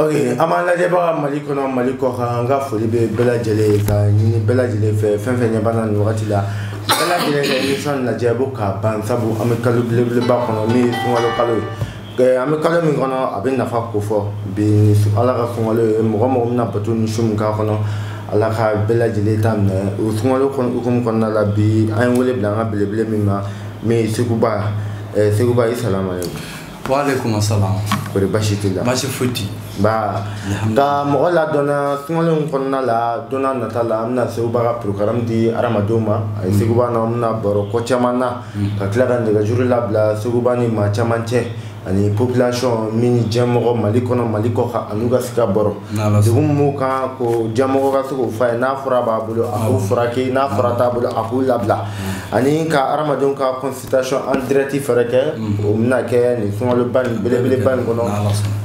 ok an b'an lajɛbaga mali kɔnɔ mali kɔ kan an ka foli bɛ bɛɛ lajɛlen ye ka ɲini bɛɛ lajɛlen fɛ fɛn fɛn ɲɛ b'an na nin wagati la bɛɛ lajɛlen ka émission lajɛ bo k'a ban sabu an bɛ kalo belebeleba kɔnɔ min ye sunkalo kalo ye an bɛ kalo min kɔnɔ a bɛ nafa ko fɔ bi ni ala ka sunkalo ye mɔgɔ mɔgɔ bɛna bato ni sun min k'a kɔnɔ ala ka bɛɛ lajɛlen ta minɛ o sunkalo hukumu kɔnɔna la bi an ye wele bila an ka belebele min ma min ye seguba seguba asalamu waaleykum asalaam kori basi t'i la basi foyi t'i ba nka mɔgɔ ladɔnna sunkalo nin kɔnɔna la don nata la an bɛna seguba ka porogaramu di hadamadenw ma a ye mm. seguba na an bɛna baro ko caman na mm. ka tila ka nɛgɛjuru labila seguba ni maa caman cɛ ani population min diɲɛmɔgɔ mali kɔnɔ mali kɔ kan an'u ka sika bɔrɔ degun b'u kan ko diɲɛmɔgɔ ka se k'o fɔ a ye n'a fura b'a bolo a k'u furakɛ n'a fura t'a bolo a k'u labila ani ka hadamadenw ka consultation en direct fɛnɛ kɛ mhm. o bɛna kɛ nin sunkaloba nin belebeleba nin kɔnɔ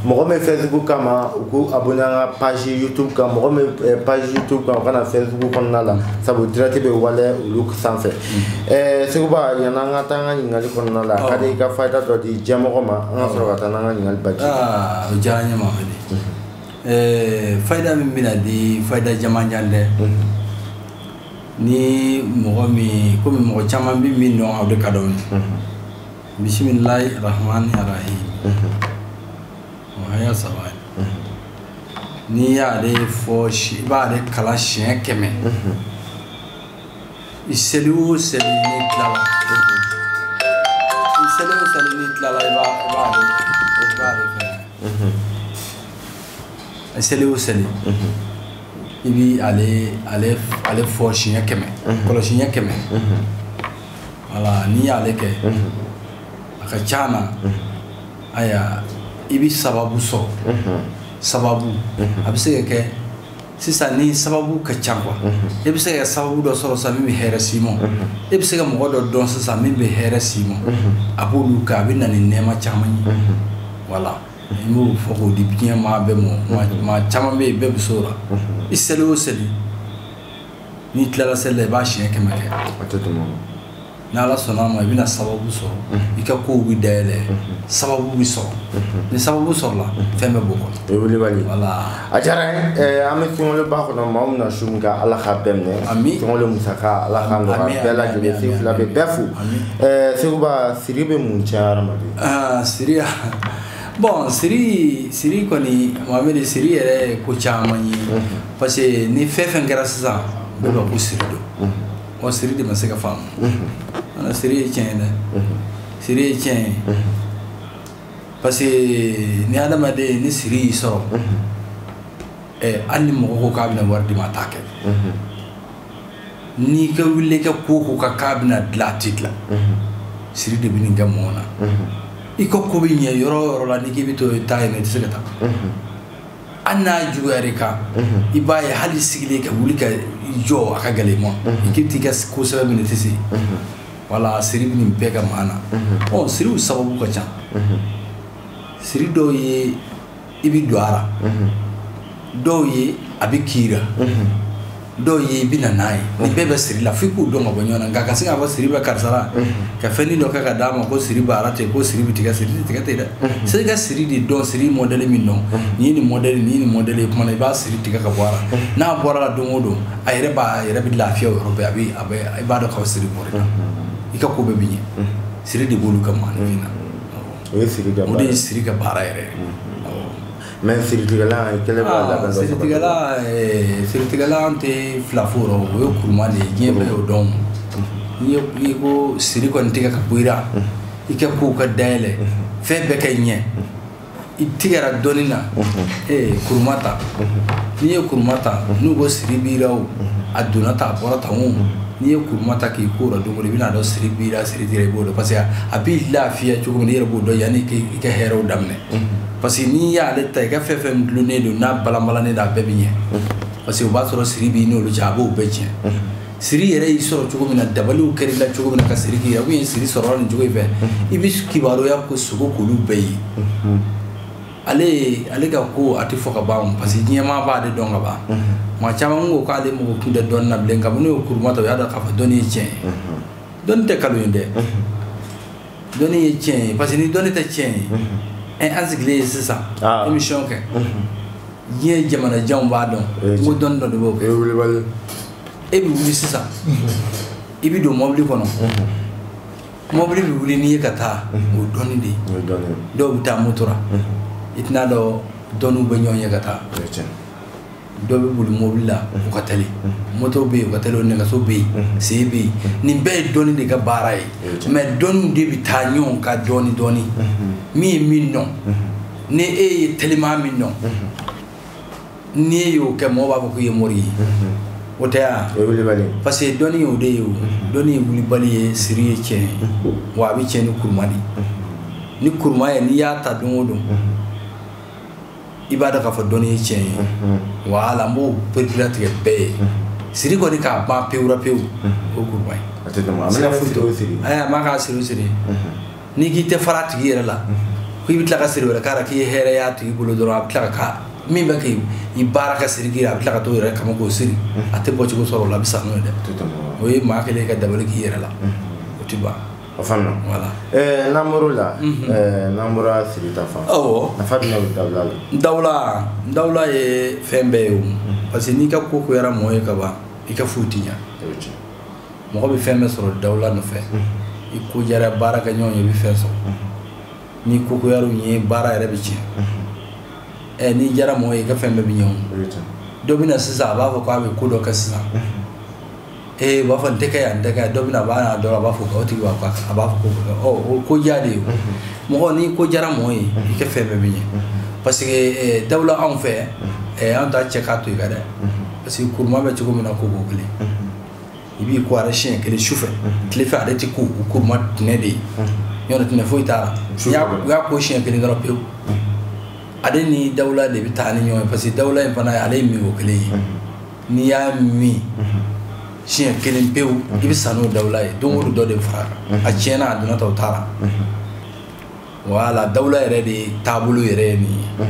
mɔgɔ min bɛ facebook kama u k'u abonné an ka page youtube kan mɔgɔ min eh, page youtube kan u ka na facebook kɔnɔna la mhm. sabu direct bɛ wale olu sanfɛ mhm. eh, seguba yanni an ka taa an ka ɲininkali kɔnɔna la ka di i ka fayida dɔ di diɲɛmɔgɔ ma an ka sɔrɔ ka taa n'an ka ɲininkali baji ah, o diyara n ye mamadi eh, fayida min bɛna di fayida jamanjan tɛ Ni mɔgɔ min kɔmi mɔgɔ caman bɛ min dɔn aw de ka dɔn bisimilahi rahmani rahim oya saba n'i y'ale fɔ i b'ale kalan siɲɛ kɛmɛ i seli o seli n'i tilala i seli o seli n'i tilala i b'a seli o seli i bi ale ale ale fɔ siɲɛ kɛmɛ kɔlɔsi ɲɛ kɛmɛ voilà n'i y'ale kɛ a ka ca na aya i bi sababu sɔrɔ sababu a bɛ se ka kɛ sisan ni sababu ka ca quoi e bɛ se ka sababu dɔ sɔrɔ sisan min bɛ hɛrɛ s'i ma e bɛ se ka mɔgɔ dɔ dɔn sisan min bɛ hɛrɛ s'i ma a b'olu kɛ a bɛ na ni nɛɛma caman ye voilà n b'o fɔ k'o di diɲɛ maa bɛɛ mɔ mhm. maa caman bɛ yen bɛɛ bɛ s'o la mhm. i seli o seli n'i tilala seli la i b'a siɲɛ kɛmɛ kɛ a tɛ tɛmɛ o ni ala sɔnna a ma i bɛna sababu sɔrɔ mhm. i ka kow bɛ dayɛlɛ sababu bɛ sɔrɔ ni sababu sɔrɔla fɛn bɛɛ b'o kɔnɔ o ye wulibali voilà a diyara n ye an bɛ sunkaloba kɔnɔ maa min na sun min kɛ ala k'a bɛɛ minɛ amiina sunkalo musaka ala k'a nɔgɔya bɛɛ lajɛlen sen fila bɛ bɛɛ fo seguba siri bɛ mun tiɲɛ hadamaden aa siri ka bon siri siri kɔni mameri siri yɛrɛ ye ko caman ye parce que ni fɛn fɛn kɛra sisan bɛɛ b'a ko siri don ɔ siri de ma se ka faamu ana siri ye tiɲɛ ye dɛ siri ye tiɲɛ ye parce que ni adamaden ni siri y'i sɔrɔ ɛ hali ni mɔgɔ ko k'a bɛna wari d'i ma a t'a kɛ n'i ka wuli ka ko o ko kɛ k'a bɛna dilan a tɛ dilan siri de bɛ nin kɛ mɔgɔ na i ka ko bɛ ɲɛ yɔrɔ yɔrɔ la n'i k'i bɛ to i taa yen i tɛ se ka taa hali n'a juguyara i kan i b'a ye hali sigilen ka wuli ka jɔ a ka gɛlɛn i ma i k'i bɛ t'i ka ko sɛbɛn minɛ i tɛ se wala siri bɛ nin bɛɛ kɛ maa na ɔ siriw sababu ka ca siri dɔw ye i bɛ don a la dɔw ye a bɛ k'i la dɔw ye i bɛ na n'a ye nin bɛɛ bɛ siri la f'i k'u dɔn ka bɔ ɲɔgɔn na nka ka se k'a fɔ siri bɛ karisa la ka fɛn dɔ kɛ ka d'a ma ko siri bɛ wara ten ko siri bɛ tigɛ siri tigɛ tɛ dɛ se ka siri de dɔn siri modɛli min don ni ni mɔd ni ni mɔd ye kuma i b'a siri tigɛ ka bɔ a la n'a bɔra la don o don a yɛrɛ b'a yɛrɛ bɛ lafiya yɔrɔ bɛɛ a bɛ a i b'a dɔn k'a siri bɔra i ka ko bɛɛ bɛ ɲɛ siri de b'olu kɛ maa na o ye siri ka o de ye siri ka baara yɛrɛ mais siritigɛla kelen b'a la ah, siritigɛla eh, siritigɛla an tɛ fila fɔ yɔrɔ o ye kuruma de ye diɲɛ bɛɛ y'o dɔn n'i ye ko siri kɔni tigɛ ka bɔ i la i ka kow ka dayɛlɛ fɛn bɛɛ ka ɲɛ i tigɛra dɔnni na ee eh, kuruma ta n'i ye kuruma ta n'u ko siri b'i la o a donna tan a bɔra tan o n'i ye kuruma ta k'i ko o la don o don i bɛna dɔn siri b'i la i b'o dɔn parce que a b'i lafiya cogo min n'i yɛrɛ b'o dɔn yanni i ka hɛrɛw daminɛ parce que n'i y'ale ta i ka fɛn fɛn dulonnen don n'a balanbalannen don a bɛɛ bɛ ɲɛ parce que o b'a sɔrɔ siri b'i n'olu cɛ a b'o bɛɛ tiɲɛ siri yɛrɛ y'i sɔrɔ cogo min na dabaliw kɛr'i la cogo min na ka siri k'i a kun ye siri sɔrɔla nin cogo in fɛ i bɛ kibaruya ka sugo k'olu bɛɛ ye ale ale ka ko a tɛ fɔ ka ban parce que diɲɛmaa b'ale dɔn ka ban maa caman ko k'ale mako tɛ dɔnni na bilen kabini o kuruma ta o y'a dɔn k'a fɔ dɔnni ye tiɲɛ ye dɔnni tɛ nkalon ye dɛ dɔnni ye tiɲɛ ye parce que ni dɔnni tɛ tiɲɛ ye ɛ an sigilen ye sisan ka émission kɛ diɲɛ jamana janw b'a dɔn eh, n ko dɔnni dɔ de b'o kɛ eh, e bɛ wuli sisan i bɛ don mɔbili kɔnɔ mɔbili bɛ wuli n'i ye ka taa o dɔnni de ye dɔw bɛ taa moto la i tɛn'a dɔn dɔnniw bɛ ɲɔgɔn ɲɛ ka taa dɔw bɛ boli mobili la u ka teli moto bɛ yen u ka teli nɛgɛso bɛ yen sen bɛ yen nin bɛɛ ye dɔnni de ka baara ye mais dɔnni de bɛ taa ɲɔgɔn kan dɔɔni dɔɔni min ye min dɔn ni e ye teliman min dɔn ni e y'o kɛ mɔgɔ b'a fɔ k'i ye mori ye o tɛ yan o ye wulibali ye parce que dɔnni y'o de ye o dɔnni ye wulibali ye siri ye tiɲɛ ye wa a bɛ tiɲɛ ni kuruma de ye ni kuruma ye n'i y'a ta don o don i b'a dɔn k'a fɔ dɔnni ye tiɲɛ ye wala n b'o pereperelatigɛ bɛɛ ye siri kɔni k'a ban pewura pewu o kuruma ye a tɛ tɛmɛ a bɛna foyi o siri ayi a man k'a siri o siri n'i k'i tɛ fara a tigi yɛrɛ la ko i bɛ tila ka siri wɛrɛ k'a la k'i ye hɛrɛ y'a tigi bolo dɔrɔn a bɛ tila ka k'a min bɛ k'i i baara ka siri k'i a bɛ tila ka t'o yɛrɛ kama k'o siri a tɛ bɔ cogo sɔrɔ o la a bɛ sa n'o ye dɛ o ye maa kelen ka dabali k'i yɛrɛ la o tɛ ban a fana voilà n'an bɔra siri fan nafa jumɛn bɛ dawula la dawula dawula ye fɛn bɛɛ ye o parce que n'i ka ko goyara mɔgɔ ye kaban i ka foyi tɛ ɲɛ mɔgɔ bɛ fɛn bɛɛ sɔrɔ dawula nɔfɛ i ko diyara baarakɛɲɔgɔn ye i bɛ fɛn sɔrɔ n'i ko goyara u ye baara yɛrɛ bɛ tiɲɛ ɛ n'i diyara mɔgɔ ye i ka fɛn bɛɛ bɛ ɲɛ o dɔ bɛ na sisan a b'a fɔ k'a bɛ ko dɔ kɛ sisan ee u b'a fɔ n tɛ kɛ yan n tɛ kɛ yan dɔ bɛna a b'a n'a dɔ la a b'a fɔ k'a tigi b'a fɔ a b'a fɔ ko ɔ o ko diya de ye mɔgɔ n'i ko diyara mɔgɔ ye i ka fɛn bɛɛ bɛ ɲɛ parce que eh, dawula anw fɛ eh, an t'a cɛ k'a to i kan dɛ parce que kuruma bɛ cogo min na koko kelen i b'i ko a ra siɲɛ kelen su fɛ tile fɛ ale tɛ ko o kuruma tɛnɛ de ye ɲɔgɔn tɛ tɛnɛ foyi t'a la Su fɛ. u y'a ko siɲɛ kelen dɔrɔn pewu ale ni dawula de bɛ taa ni ɲɔgɔn ye parce que dawula in fana ale ye minko kelen ye n'i y'a min siɲɛ kelen pewu i bɛ sa n'o dawula ye don o don dɔ de bɛ fara a kan a tiɲɛna a donna ta o t'a la wala dawula yɛrɛ de ye taabolo yɛrɛ ye nin ye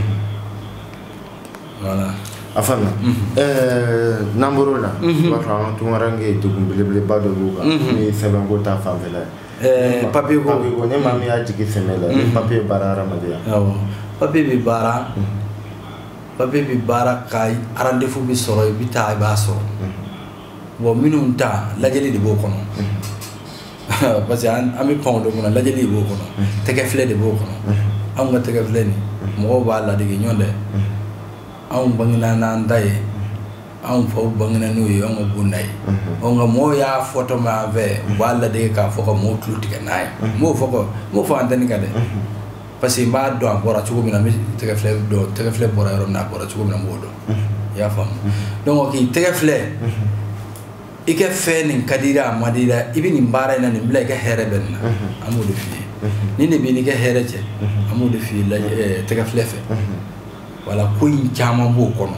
voilà a faamuya n'an bɔr'o la i b'a fɔ an ka tunkaranke degun belebeleba dɔ b'u kan n'o ye sɛbɛnko ta fanfɛla ye papiye ko papiye ko ni maa min y'a jigi sɛmɛ la ni papiye baara hadamadenya papiye bɛ baara papier bɛ baara ka rendez-vous bɛ sɔrɔ i bɛ taa i b'a sɔrɔ bon minnu ta lajɛli de b'o kɔnɔ parce que an bɛ pan o de kɔnɔ lajɛli de b'o kɔnɔ tɛgɛ filɛ de b'o kɔnɔ anw ka tɛgɛ filɛ nin mɔgɔw b'a ladege ɲɔgɔn dɛ anw bangena n'an ta ye anw faw bangena n'o ye anw ka bonda ye ɔ nka mɔgɔw y'a fɔtɔ mɛn an fɛ u b'a ladege k'a fɔ ka mɔgɔw tulo tigɛ n'a ye n b'o fɔ n b'o fɔ antɛni kan dɛ parce que n b'a dɔn a bɔra cogo min na n bɛ tɛgɛ filɛ dɔn tɛgɛ filɛ bɔra yɔrɔ min na a bɔra cogo min na n b'o dɔn i y'a faamu donc k'i tɛgɛ filɛ i ka fɛn nin ka di a ma di la i bɛ nin baara in na nin bila i ka hɛrɛ bɛ nin na an b'o de f'i ye nin de b'i n'i ka hɛrɛ cɛ an b'o de f'i ye tɛgɛ filɛ fɛ wala ko in caman b'o kɔnɔ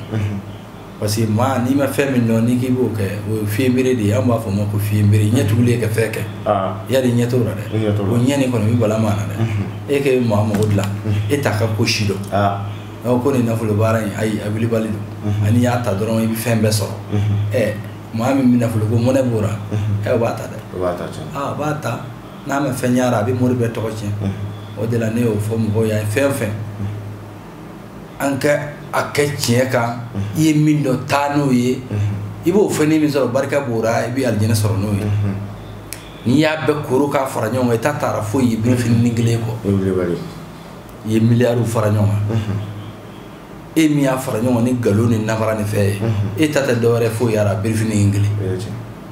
parce que maa n'i ma fɛn min dɔn n'i k'i b'o kɛ o ye fiɲɛbere de ye an b'a fɔ o ma ko fiɲɛbere ɲɛ tugulen ka fɛn kɛ ah. yali ɲɛ t'o la dɛ o ɲɛ nin kɔni bɛ bala maa na dɛ mhm. e k'e bɛ maa mago dilan mhm. e t'a ka ko si dɔn ah. ko nin nafolo baara in ayi a wulibali don mhm. a n'i y'a ta dɔrɔn i bɛ fɛn bɛɛ sɔrɔ ɛ maa min bɛ nafolo kɔ mɔnɛ b'o la ɛ o b'a ta dɛ o b'a ta tiɲɛ aa o b'a ta n'a ma fɛn ɲɛna a bɛ mori bɛɛ tɔgɔ tiɲɛ o de la ne y'o fɔ mɔgɔw ye a ye fɛn o fɛn an ka a kɛ tiɲɛ kan i ye min dɔn taa n'o ye i b'o fɛn min sɔrɔ barika b'o ra i bɛ alijinɛ sɔrɔ n'o ye n'i y'a bɛɛ koro k'a fara ɲɔgɔn kan i ta t'a ra foyi ye birifini nin kelen kɔ i ye miliyariw fara ɲɔgɔn kan e min y'a fara ɲɔgɔn ni nkalon ni namara ni fɛn ye e ta tɛ dɔwɛrɛ foyi y'a ra birifini in kelen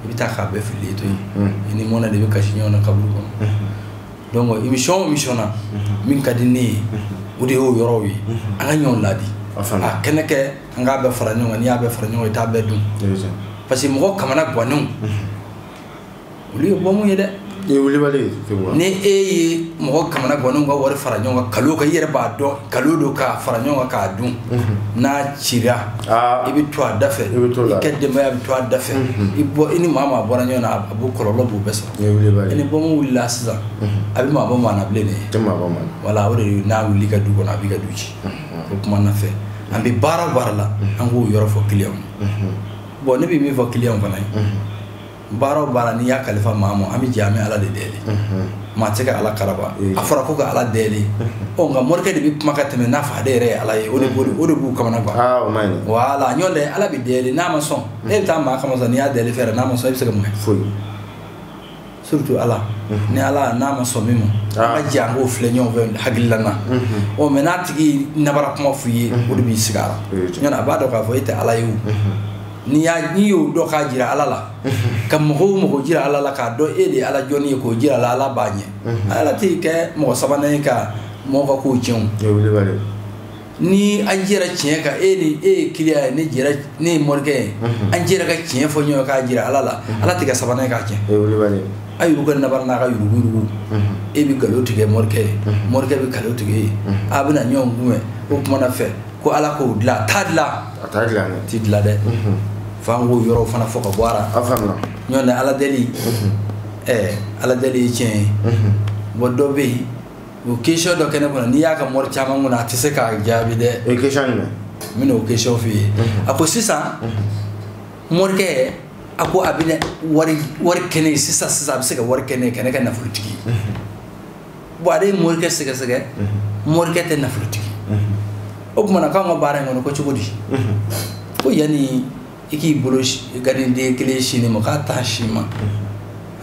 i bɛ taa k'a bɛɛ fili to yen i ni mɔnɛ de bɛ kasi ɲɔgɔn na kaburu kɔnɔ donc émission o émission na min ka di ne ye o de y'o yɔrɔw ye an ka ɲɔgɔn laadi a kana kɛ an k'a bɛɛ fara ɲɔgɔn kan n'i y'a bɛɛ fara ɲɔgɔn kan i t'a bɛɛ dun parce que mɔgɔ kamana gwannenw olu ye bɔmu ye dɛ ni e ye mɔgɔ kamana gwannenw ka wari fara ɲɔgɔn kan nkalon kan i yɛrɛ b'a dɔn nkalon don k'a fara ɲɔgɔn kan k'a dun n'a cira i bɛ to a da fɛ i ka denbaya bɛ to a da fɛ i ni maa o maa bɔra ɲɔgɔn na a b'o kɔlɔlɔ b'u bɛɛ sɔrɔ ni bɔmu wulila sisan a bɛ maa bɔ maa na bilen dɛ wala o de n'a wuli i ka du kɔnɔ a b'i ka du ci o kumana fɛ an bɛ baara o baara la an k'o yɔrɔ fɔ client bon ne bɛ min fɔ client fana ye baara o baara n'i y'a kalifa maa ma an bɛ jɛ an bɛ ala de deli maa tɛ ka ala karaba a fɔra ko ka ala deli ɔ nka morikɛ de bɛ kuma ka tɛmɛ n'a fɔ ale yɛrɛ ye ala ye o de b'o o de b'u kamana gan wala nɔntɛ ala bɛ deli n'a ma sɔn e bɛ taa maa kama sɔn n'i y'a deli fɛn na a ma sɔn e bɛ se ka mun kɛ foyi surtout ala mhm. ni ala n'a ma sɔn min ma ah. an ka jɛ an k'o filɛ ɲɔgɔn fɛ hakilila na mhm. ɔ mais n'a tigi nabara kuma f'i ye mhm. o de b'i sigi a la ɲɔnɔ a b'a dɔn k'a fɔ e tɛ ala ye o n'i y'a n'i y'o dɔn k'a jira ala la ka mɔgɔ o mɔgɔ jira ala la k'a dɔn e de ye ala jɔnnin ye k'o jira a la ala b'a ɲɛ ala t'i kɛ mɔgɔ sabanan ye ka mɔgɔ ka kow tiɲɛ o ni an jɛra tiɲɛ kan e ni e ye client ye ne jɛra ne ye morikɛ ye mhm. an jɛra ka tiɲɛ fɔ ɲɔgɔn k'a jira ala la mhm. ala tɛ kɛ sabanan ye k'a tiɲɛ a yɛrɛ ka nabara n'a ka yuruguyurugu mhm. e bɛ nkalon tigɛ morikɛ ye morikɛ bɛ nkalon tigɛ e ye a bɛna ɲɔgɔn kunbɛn o kumana fɛ ko ala k'o dilan a t'a dilan a t'a dilan dɛ ti dilan dɛ fo an k'o yɔrɔw fana fɔ ka bɔ a la a faamuya nɔntɛ ala deli ɛɛ ala deli ye tiɲɛ ye bon dɔ bɛ yen o question dɔ kɛ ne kun na n'i y'a kɛ mori caman kun na a tɛ se k'a jaabi dɛ o ye question jumɛn n bɛna o question f'i ye a ko sisan morikɛ a ko a bɛna wari kɛ ne ye sisan sisan a bɛ se ka wari kɛ ne ye ka ne kɛ nafolotigi ye bon ale ye morikɛ sɛgɛsɛgɛ morikɛ tɛ nafolotigi o tuma na k'anw ka baara in kɔnɔ ko cogo di ko yanni i k'i bolo gadiden kelen sin ne ma k'a t'a si ma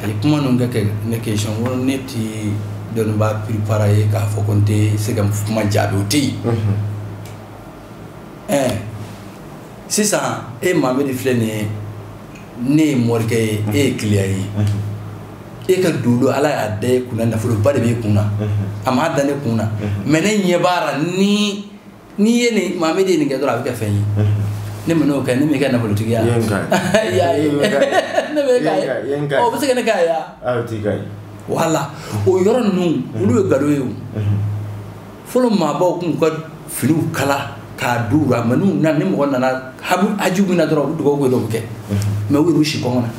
a ye kuma ninnu kɛ ka ne question ko ne tɛ dɔnnibaa piripara ye k'a fɔ ko n tɛ se ka kuma jaabi o tɛ yen ɛɛ sisan e mamadi filɛ nin ye ne ye morikɛ ye e ye kiliyan ye e ka dolo ala y'a da e kunna nafoloba de b'e kunna a m'a da ne kunna mais ne ɲɛ b'a la ni n'i ye nin mamadi ye nin kɛ dɔrɔn a bɛ kɛ fɛn ye ne ma n'o kɛ ne m'i kɛ nafolotigi ye ne bɛ k'a ye o bɛ se ka ne k'a ye wala o yɔrɔ ninnu olu ye nkalon ye o fɔlɔ maabaw tun ka finiw kala k'a d'u la mais n'u na ni mɔgɔ nana haju min na dɔrɔn u bɛ dugawu dɔw kɛ mais u y'u si kɔngɔ na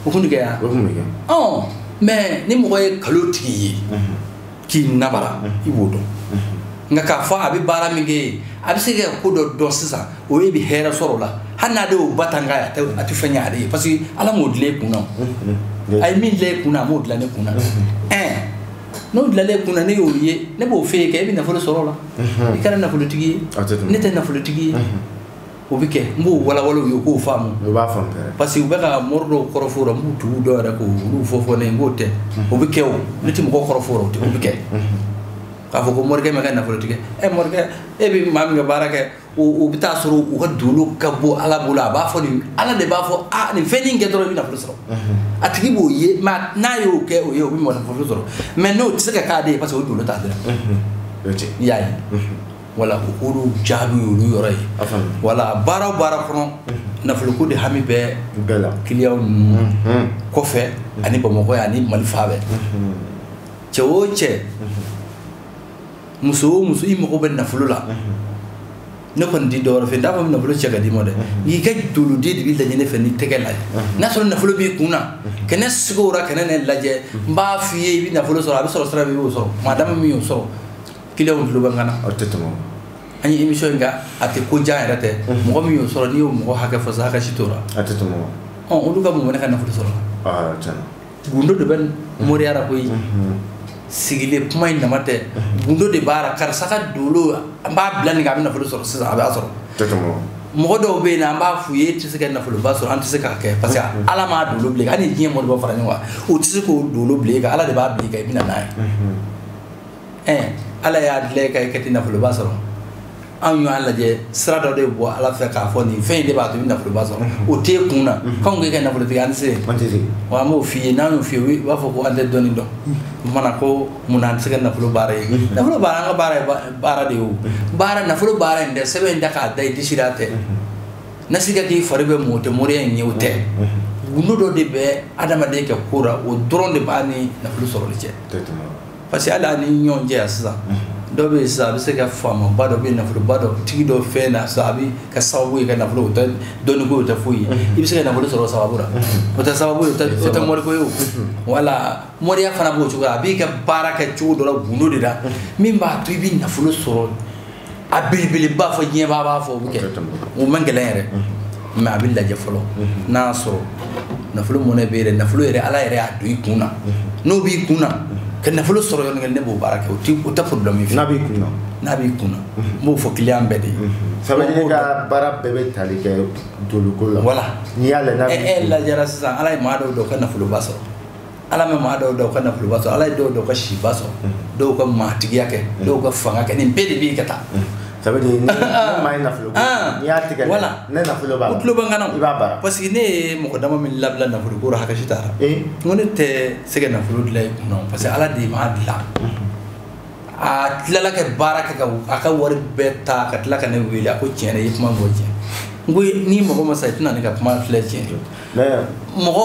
o tun kɛ yan mais ni mɔgɔ ye nkalontigi ye k'i nanbara i b'o dɔn nka k'a fɔ a bɛ baara min kɛ ye a bɛ se ka ko dɔ dɔn sisan o e b'i hɛrɛ sɔrɔ o la hali n'ale y'o ba tan k'a ye a tɛ fɛn ɲɛ ale ye parce que ala m'o dilan e kun na o a ye min dilan e kun na a m'o dilan ne kun na ɛn n'o dilanlen e kun na ne y'o ye ne b'o f'e ye kɛ e bɛ nafolo sɔrɔ o la i kɛra nafolotigi ye ne tɛ nafolotigi ye. o bɛ kɛ n b'o walawala u ye k'o faamu u b'a faamu parce que u bɛ ka mori dɔw kɔrɔfɔ la n b'u tugu dɔw yɛrɛ k'olu fɔfɔ ne ye n k'o tɛ o bɛ kɛ o ne tɛ mɔgɔ kɔrɔfɔ o bɛ kɛ k'a fɔ ko morikɛ ma kɛ nafolotigi ye morikɛ e bɛ maa min ka baara kɛ o bɛ taa sɔrɔ o ka dolo ka bon ala bolo a b'a fɔ nin ala de b'a fɔ a nin fɛn in kɛ dɔrɔn i bɛ nafolo sɔrɔ a tigi b'o ye mais n'a y'o kɛ o ye o bɛ mɔgɔ nafolo sɔrɔ mais n'o tɛ se ka k'ale ye parce que o dolo t'ale la i y'a ye wala olu jaabi y'olu yɔrɔ ye wala baara o baara kɔnɔ nafoloko de hami bɛ kiliyan ninnu kɔfɛ ani bamakɔ ye ani mali fan bɛɛ cɛ o cɛ muso o muso i mago bɛ nafolo la ne kɔni di dɔw fɛ n t'a fɔ nafolo cɛ k'a d'i ma dɛ n'i ka doloden de bɛ lajɛ ne fɛ n'i tɛgɛ lajɛ n'a sɔrɔ nafolo b'i kun na kɛnɛ sigiyɔrɔ kɛnɛ ne lajɛ n b'a f'i ye i bɛ nafolo sɔrɔ a bɛ sɔrɔ sira min i b'o sɔrɔ maa dama min y'o sɔrɔ Kiliyanw tulo bɛ n kan na aw tɛ tɛmɛ an ye émission in kɛ a tɛ ko diya yɛrɛ tɛ mɔgɔ min y'o sɔrɔ n'i y'o mɔgɔ hakɛ fɔ sa hakɛ si t'o la a tɛ tɛmɛ olu ka mun ne ka nafolo sɔrɔ gundo de bɛ moriya la koyi sigilen kuma in dama tɛ gundo de b'a la karisa ka dolo an b'a bila nin kan a bɛ nafolo sɔrɔ sisan a b'a sɔrɔ mɔgɔ dɔw bɛ yen an b'a f'u ye e tɛ se ka nafoloba sɔrɔ an tɛ se k'a kɛ parce que ala m'a dolo bila hali ni diɲɛ mɔgɔ bɛɛ fara ɲɔgɔn kan u tɛ se k'o dolo bila nin kan ala de b'a bila i bɛna n'a ye ɛɛ ala y'a dilan e ka i ka ti nafoloba sɔrɔ anw y'a lajɛ sira dɔ de bɔ ala fɛ k'a fɔ nin fɛn in de b'a to i bɛ nafoloba sɔrɔ o t'e kun na k'anw k'e kɛ nafolotigi an tɛ se wa an b'o f'i ye n'an y'o f'i ye u b'a fɔ ko an tɛ dɔnni dɔn o kuma na ko mun na an tɛ se ka nafolo baara ye nafolo baara an ka baara ye baara de ye o baara nafolo baara in dɛ sɛbɛn in da k'a da i disi la tɛ nasi kɛ k'i fari bɛɛ mu o tɛ moriya in ye o tɛ gundo dɔ de bɛ adamaden ka ko la o dɔrɔn de b'a ni nafolo sɔrɔli cɛ parce que hali an ni ɲɔgɔn cɛ yan sisan dɔ bɛ yen sisan a bɛ se ka faamaba dɔ bɛ nafoloba dɔ tigi dɔ fɛn na sisan a bɛ kɛ sababu ye ka nafolo o tɛ dɔnniko o tɛ foyi ye i bɛ se ka nafolo sɔrɔ sababu la o tɛ sababu ye o tɛ moriko ye voilà moriya fana b'o cogo la a b'i ka baara kɛ cogo dɔ la gundo de la min b'a to i bɛ nafolo sɔrɔ a belebeleba fo diɲɛ bɛɛ b'a fɔ o bɛ kɛ o man gɛlɛn yɛrɛ mais a bɛ lajɛ fɔlɔ n'a y'a sɔrɔ nafolo mɔnɛ bɛ yɛrɛ nafolo yɛrɛ ala yɛrɛ y'a don i kun na n'o b'i kun na ka nafolo sɔrɔ yɔrɔnin kelen ne b'o baara kɛ o ti o tɛ problème ye n'a b'i kun na n'a b'i kun na n b'o fɔ client bɛɛ de ye ça veut dire ka baara bɛɛ bɛ tali kɛ doloko la voilà n'i y'a lajɛ n'a b'i kun na e lajɛra sisan ala ye maa dɔw da u ka nafoloba sɔrɔ ala bɛ maa dɔw da u ka nafoloba sɔrɔ ala ye dɔw da u ka siba sɔrɔ dɔw ka maatigiya kɛ dɔw ka fanga kɛ nin bɛɛ de b'i ka taa ça veut dire ne maa ye nafolo n'i y'a tigɛ voilà ni nafolo b'a la o dolo bɛ n kana i b'a baara parce que ne ye mɔgɔ dama min labila nafolo ko la hakɛ si t'a la n ko ne tɛ se ka nafolo dilan i kun na parce que ala de m'a dilan a tilala ka baara kɛ ka a ka wari bɛɛ ta ka tila ka ne wele a ko tiɲɛ yɛrɛ i ye kuma min fɔ tiɲɛ n ko ni mɔgɔ ma sa i tɛna ne ka kuma filɛ tiɲɛ mɔgɔ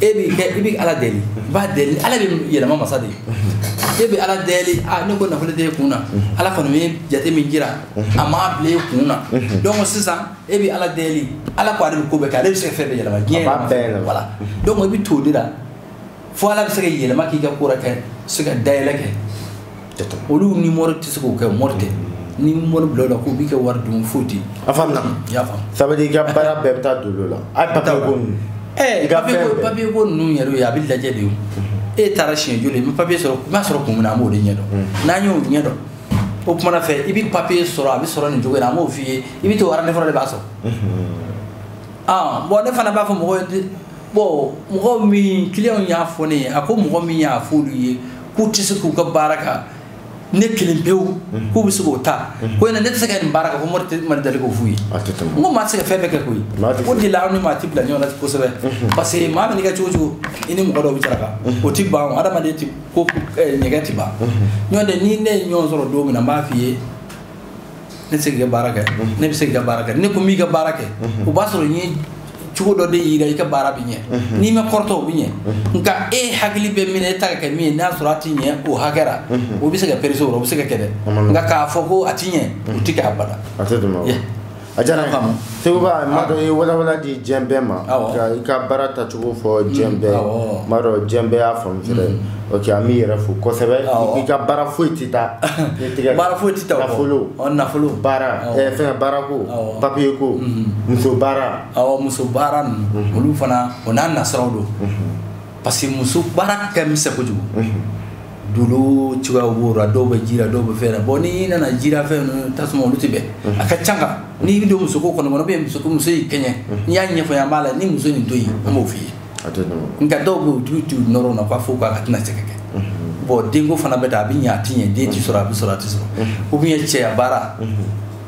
e b'i kɛ i bɛ ala deli i b'a deli ala bɛ yɛlɛma masa de ye e bɛ ala deli a ne ko nafolo tɛ e kun na ala kɔni ye jate min jira a ma bila e kun na donc sisan e bɛ ala deli ala ko ale bɛ ko bɛɛ kɛ ale bɛ se ka fɛn bɛɛ yɛlɛma diɲɛ voilà donc i bɛ t'o de la fo ala bɛ se ka yɛlɛma k'i ka ko la kɛ se ka dayɛlɛ kɛ olu ni mɔri tɛ se k'o kɛ mɔri tɛ ni mɔri bila la k'u b'i ka wari dun foyi tɛ a faamuna i y'a faamu ça veut dire i ka baara bɛɛ bɛ taa dolo la a ye papier ko ninnu ɛɛ papier ko ninnu yɛrɛ ye a bɛ lajɛ de ye e taara siɲɛ joli n bɛ papier sɔrɔ n b'a sɔrɔ kun min na an b'o de ɲɛ dɔn n'an y'o ɲɛ dɔn o kumana fɛ i bɛ papier sɔrɔ a bɛ sɔrɔ nin cogo in na an b'o f'i ye i bɛ to aranɛfɔlɔ de b'a sɔrɔ ah bon ne fana b'a fɔ mɔgɔw ye bon mɔgɔ min client y'a fɔ ne ye a ko mɔgɔ min y'a fɔ olu ye k'u tɛ se k'u ka baara kɛ ne kelen pewu mhm. k'u bɛ se k'o ta mhm. ko yɛrɛ ne tɛ se ka nin baara kɛ ko mɔri tɛ mali deli k'o f'u ye n ko maa tɛ se ka fɛn bɛɛ kɛ koyi o de la aw ni maa tɛ bila ɲɔgɔn na kosɛbɛ mhm. parce que maa mana kɛ cogo o cogo i ni mɔgɔ dɔw bɛ saraka o tɛ ban adamaden tɛ ko ɲɛgɛn tɛ ban ɲɔgɔn tɛ ni ne ye ɲɔgɔn sɔrɔ don min na n b'a f'i ye ne tɛ se k'i ka baara kɛ ne bɛ se k'i ka baara kɛ ne ko n b'i ka baara kɛ o b'a sɔrɔ n ye cogo dɔ de yira i ka baara bɛ ɲɛ n'i ma kɔrɔtɔ o bɛ ɲɛ nka e hakili bɛ min na e ta ka kɛ min ye n'a sɔrɔ a ti ɲɛ o hakɛ la o bɛ se ka perese o o bɛ se ka kɛ dɛ nka k'a fɔ ko a ti ɲɛ o ti kɛ abada a tɛ tɛmɛ o kan. Yeah. a diyara n ye. Faamu. seguba n m'a dɔn i ye walawala di diɲɛ bɛɛ ma ka i ka baara tacogo fɔ diɲɛ mm, bɛɛ n m'a dɔn diɲɛ bɛɛ y'a faamu fɛnɛ mm. ok an b'i yɛrɛ fo kosɛbɛ i ka baara foyi tɛ taa ne tɛgɛ baara foyi tɛ taa nafolo nafolo baara eh, fɛn baara ko papiye ko mm-hmm. muso baara awɔ muso baara ninnu mm-hmm. olu fana o n'a nasiraw don mm-hmm. parce que muso baara ka misɛn kojugu dolo cogoya b'o la dɔw bɛ ji la dɔw bɛ fɛn na bɔn n'i nana ji ra fɛn ninnu tasuma olu tɛ bɛn a ka ca nka n'i bɛ don muso ko kɔnɔ kɔnɔ bɛ muso muso y'i kɛɲɛ n'i y'a ɲɛfɔ an b'a la ni muso nin to yen an b'o f'i ye nka dɔw bɛ dolo ti nɔrɔ na k'a fɔ k'a ka tɛna se ka kɛ bɔn denko fana bɛ taa a bɛ ɲɛ a tɛ ɲɛ den tɛ sɔrɔ a bɛ sɔrɔ a tɛ sɔrɔ ou bien cɛya baara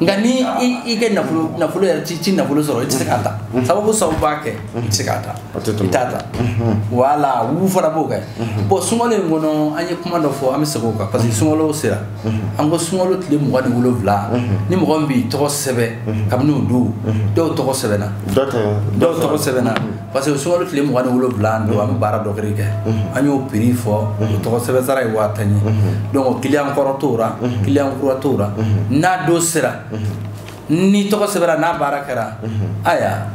nka ni i kɛ nafolo nafolo yɛrɛ ci ci nafolo sɔrɔ i tɛ se k'a ta sababu sababu b'a kɛ i tɛ se k'a ta i t'a ta wala u fana b'o kɛ bɔn sunkalo in kɔnɔ an ye kuma dɔ fɔ an bɛ segin o kan parce que sunkalo sera an ko sunkalo tile mugan ni wolonwula ni mɔgɔ min b'i tɔgɔ sɛbɛn kabini o don dɔw tɔgɔ sɛbɛnna dɔw tɔgɔ sɛbɛnna parce que sunkalo tile mugan ni wolonwula don an bɛ baara dɔ kɛ an y'o piri fɔ o tɔgɔ sɛbɛn sara ye waa tan ye donc kiliyan kɔrɔ t'o la kiliyan kura t'o la n'a don sera ni tɔgɔ sɛbɛnra n'a baara kɛra aya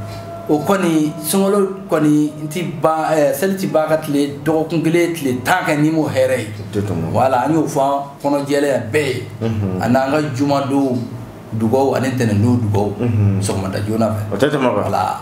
o kɔni sunkalo kɔni n ti ban eh, seli ti ban ka tile dɔgɔkun kelen tile tan kɛ n'i m'o hɛrɛ ye wala an y'o fɔ an kɔnɔ jɛlenya bɛɛ ye a n'an ka jumadonw dugaw ani ntɛnɛndonw dugaw sɔgɔmada joona fɛ o tɛ tɛmɛ wala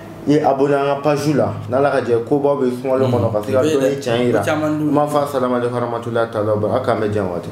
i abonné an ka page la n'ala ka jɛ kobaw bɛ sunkalo kɔnɔ ka se ka dɔnni tiɲɛ yira n b'a fɔ a salamalekun warahamatulayi taala a k'an bɛn diɲɛ waati